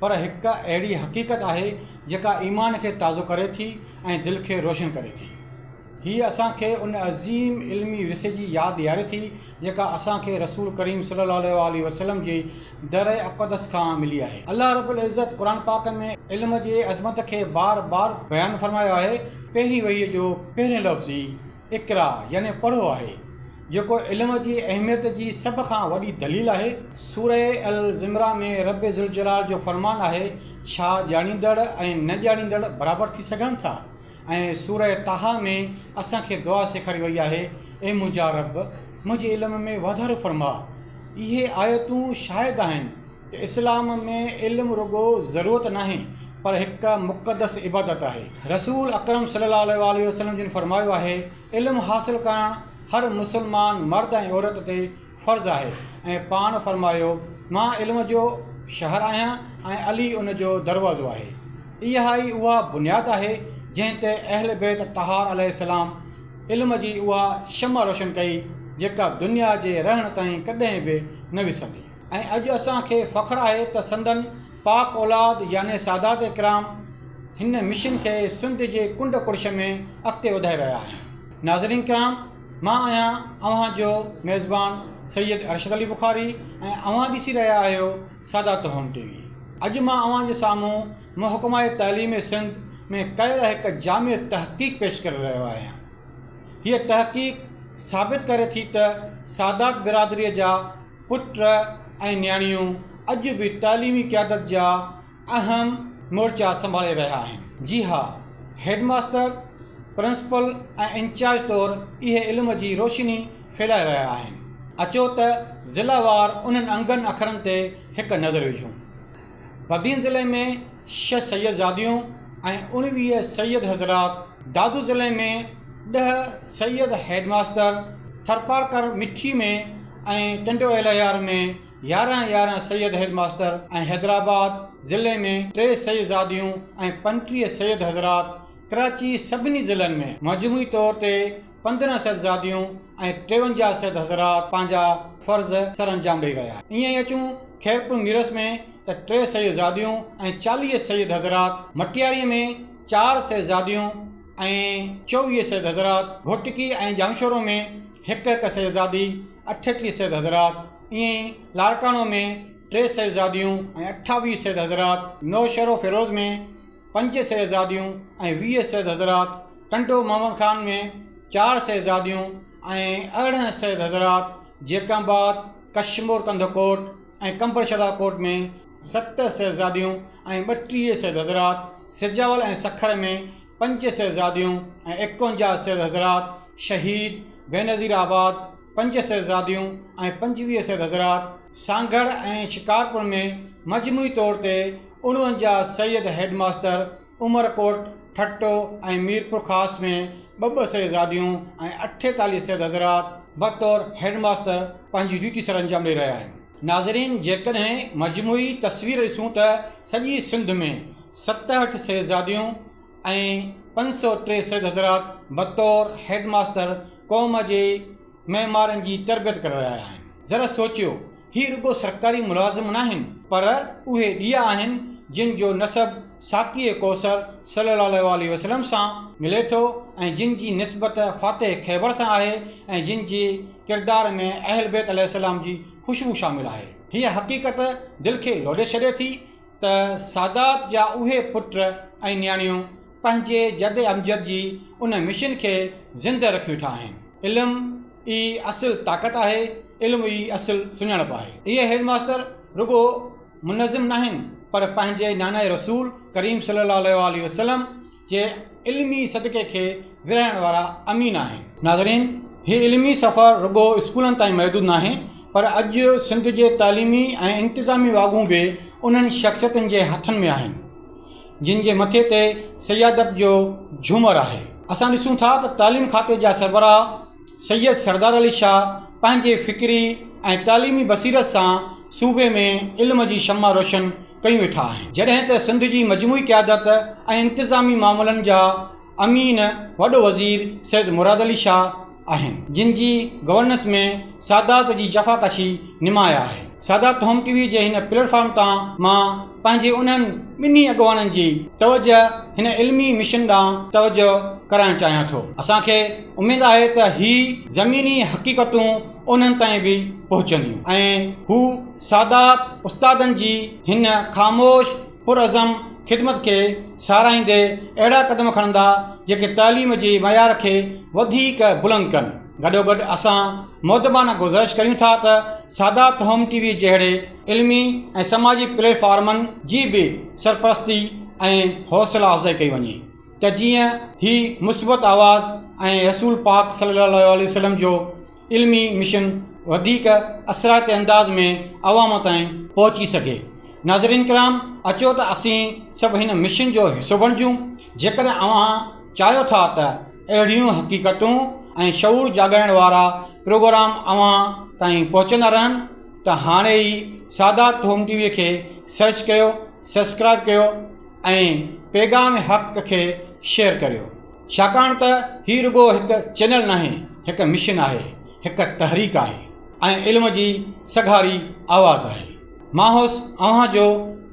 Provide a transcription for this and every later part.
پر هڪ اهڙي حقيقت آهي جيڪا ايمان کي تازو ڪري ٿي ۽ دل کي روشن ڪري ٿي. هيء اسان کي ان عظيم علمي ورثي جي ياد ڏياري ٿي جيڪا اسان کي رسول ڪريم صلي الله عليه واٰله وسلم جي در اقدس کان ملي آهي. الله رب العزت قرآن پاڪ ۾ علم جي عظمت کي بار بار بيان فرمايو آهي، پهرين وحيء جو پهريون لفظ ئي اقرا يعني پڙهو آهي، جيڪو علم جي اهميت جي سڀ کان وڏي دليل آهي. سوره الزمران ۾ رب ذوالجلال جو فرمان آهي، ڇا ڄاڻيندڙ ۽ نه ڄاڻيندڙ برابر ٿي سگهن ٿا؟ ۽ سوره طٰه ۾ اسان کي دعا سيکاري وئي آهي، اي منهنجا رب! منهنجي علم ۾ واڌارو فرماء. اهي آيتون شاهد آهن. ته اسلام ۾ علم رڳو ضرورت ناهي پر هڪ مقدس عبادت آهي. رسول اڪرم صلي الله عليه واٰله وسلم جن فرمايو آهي، علم حاصل ڪرڻ هر مسلمان مرد ۽ عورت تي فرض آهي ۽ پاڻ فرمايو، مان علم جو شهر آهيان ۽ علي ان جو دروازو آهي. اها ئي اها بنياد آهي جنهن تي اهل بيت طهار عليه السلام علم جي اها شمع روشن ڪئي جيڪا دنيا جي رهڻ تائين ڪڏهن به نه وسندي. ۽ اڄ اسان کي فخر آهي ته سندن پاڪ اولاد يعني سادات اڪرام هن مشن کي سنڌ جي ڪنڊ ڪڙڇ ۾ اڳتي وڌائي رهيا آهن. ناظرين ڪرام مان آهيان اوهان جو ميزبان سيد ارشد علي بخاري ۽ اوهان ڏسي رهيا آهيو سادات هوم ٽي وي. اڄ مان اوهان جي سامهون محڪمه تعليم سنڌ ۾ ڪيل هڪ جامع تحقيق پيش ڪري رهيو آهيان. هيء تحقيق ثابت ڪري ٿي ته سادات برادري جا. پٽ ۽ نياڻيون اڄ به تعليمي قيادت جا اهم مورچا سنڀالي رهيا آهن. جي ها، هيڊ ماستر، پرنسپل ۽ انچارج طور اهي علم جي روشني ڦهلائي رهيا آهن. اچو ته ضلع وار انهن انگن اکرن تي هڪ نظر وجهون. بدين ضلعي ۾ ڇهه سيدزاديون ۽ اڻويهه سيد حضرات، دادو ضلعي ۾ ڏهه سيد هيڊ ماستر، ٿرپارڪر مٺي ۾ ۽ ٽنڊو الهيار ۾ يارهن يارهن سيد هيڊ ماستر ۽ حيدرآباد ضلعي ۾ ٽي سيدزاديون ۽ پنٽيهه سيد حضرات ڪراچي سڀني ضلعن ۾ مجموعي طور تي پندرهن سيد زاديون ۽ ٽيونجاهه سيد حضرات پنهنجا فرض سرانجام ڏئي ويا. ائين ئي اچون خيرپور ميرس ۾ ته ٽي سيد زاديون ۽ چاليهه سيد حضرات، مٽياريء ۾ چار سيد زاديون ۽ چوويهه سيد حضرات، گهوٽڪي ۽ ڄامشورو ۾ هڪ هڪ سيد زادي، اٺٽيهه سيد حضرات، ائين ئي لاڙڪاڻو ۾ ٽي سيد زاديون ۽ اٺاويهه سيد حضرات، نوشهروفيروز ۾. پنج شهزاديون ۽ ويهه سيد حضرات، ٽنڊو محمد خان ۾ چار شهزاديون ۽ ارڙهن سيد حضرات، جيڪب آباد، ڪشمور ڪنڌ ڪوٽ ۽ قمبر شهداد ڪوٽ ۾ ست شهزاديون ۽ ٻٽيهه سيد حضرات، سجاول ۽ سکر ۾ پنج شهزاديون ۽ ايڪونجاهه سيد حضرات، شهيد بينظير آباد، پنج صحبزاديون ۽ پنجويهه سيد حضرات سانگهڙ ۽ شڪارپور ۾ مجموعي طور تي اڻونجاهه سيد هيڊ ماستر عمرڪوٽ، ٺٽو ۽ ميرپورخاص ۾ ٻه ٻه صحبزاديون ۽ اٺيتاليهه سيد حضرات بطور هيڊ ماستر پنهنجي ڊيوٽي سرانجام ڏئي رهيا آهن. ناظرين جيڪڏهن مجموعي تصوير ڏسون ته سڄي سنڌ ۾ ستهٺ صحبزاديون ۽ پنج سؤ ٽي سيد حضرات بطور هيڊ ماستر قوم جي معمارن جي تربيت ڪري رهيا آهن. ذرا سوچيو، هي رڳو سرڪاري ملازم ناهن، پر اهي ڏيئا آهن، جن جو نسب ساقيء ڪوثر صلّي اللّٰه عليه وسلّم سان ملي ٿو ۽ جن جي نسبت فاتح خيبر سان آهي ۽ جن جي ڪردار ۾ اهل بيت عليه السّلام جي خوشبو شامل آهي. هيء حقيقت دل کي لوڏي ڇڏي ٿي، ته سادات جا اهي پٽ ۽ نياڻيون پنهنجي جد امجد جي ان مشن کي زندهه رکي ويٺا آهن. علم ئي اصل طاقت آهي، علم ئي اصل سڃاڻپ آهي. اهي هيڊ ماستر رڳو منظم ناهن پر پنهنجي نانائي رسول ڪريم صلي الله عليه واٰله وسلم جي علمي صدقي کي ورهائڻ وارا امين آهن. ناظرين! هي علمي سفر رڳو اسڪولن تائين محدود ناهي پر اڄ سنڌ جي تعليمي ۽ انتظامي واڳون به انهن شخصيتن جي هٿن ۾ آهن جن جي مٿي تي سيادت جو جهومر آهي. اسان ڏسون ٿا ته تعليم کاتي جا سربراهه سيد سردار علي شاهه پنهنجي فڪري ۽ تعليمي بصيرت سان صوبي ۾ علم جي شمع روشن ڪيون ويٺا آهن جڏهن ته سنڌ جي مجموعي قيادت ۽ انتظامي معاملن جا امين وڏو وزير سيد مراد علي شاهه آهن جن جي گورننس ۾ سادات جي جفاڪشي نمايان آهي سادات هوم ٽي وي جي هن پليٽ فارم تان مان پنهنجي انهن ٻنهي اڳواڻن جي توجه هن علمي مشن ڏانهن توجه ڪرائڻ چاهيان ٿو. اسان کي اميد آهي ته هي زميني حقيقتون انهن تائين به پهچنديون ۽ هو سادات استادن جي هن خاموش پرعزم خدمت کي ساراهيندي اهڙا قدم کڻندا جيڪي تعليم جي معيار کي وڌيڪ بلند ڪن گڏوگڏ اسان مؤدبانه گذرش ڪريون ٿا ته سادات هوم ٽي وي جهڙي علمي ۽ سماجي پليٽ فارمن جي به سرپرستي ۽ حوصلا افزائي ڪئي وڃي. ته جيئن هي مثبت آواز ۽ رسول پاڪ صلي الله عليه وسلم جو علمي مشن وڌيڪ اثرائتي انداز ۾ عوام تائين پهچي سگهي. ناظرين ڪرام اچو ته اسين سڀ هن مشن جو حصو بڻجون. جيڪڏهن اوهان چاهيو ٿا ته اهڙيون حقيقتون ۽ شعور جاڳائڻ وارا پروگرام اوهان تائين پهچندا رهن ته هاڻي ئي سادات هوم ٽي وي کي سرچ ڪيو، سبسڪرائب ڪيو، ۽ پيغام حق کي شيئر ڪريو ڇاڪاڻ ته هي رڳو هڪ چينل ناهي هڪ مشن آهي هڪ تحريڪ آهي ۽ علم جي سگهاري آواز آهي مان هوس اوهان جو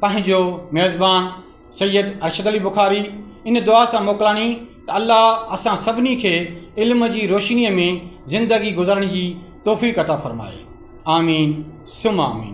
پنهنجو ميزبان سيد ارشد علي بخاري ان دعا سان موڪلاڻي ته الله اسان سڀني کي علم جي روشنيء ۾ زندگي گذارڻ جي توفيق عطا فرمائي آمين ثم آمين.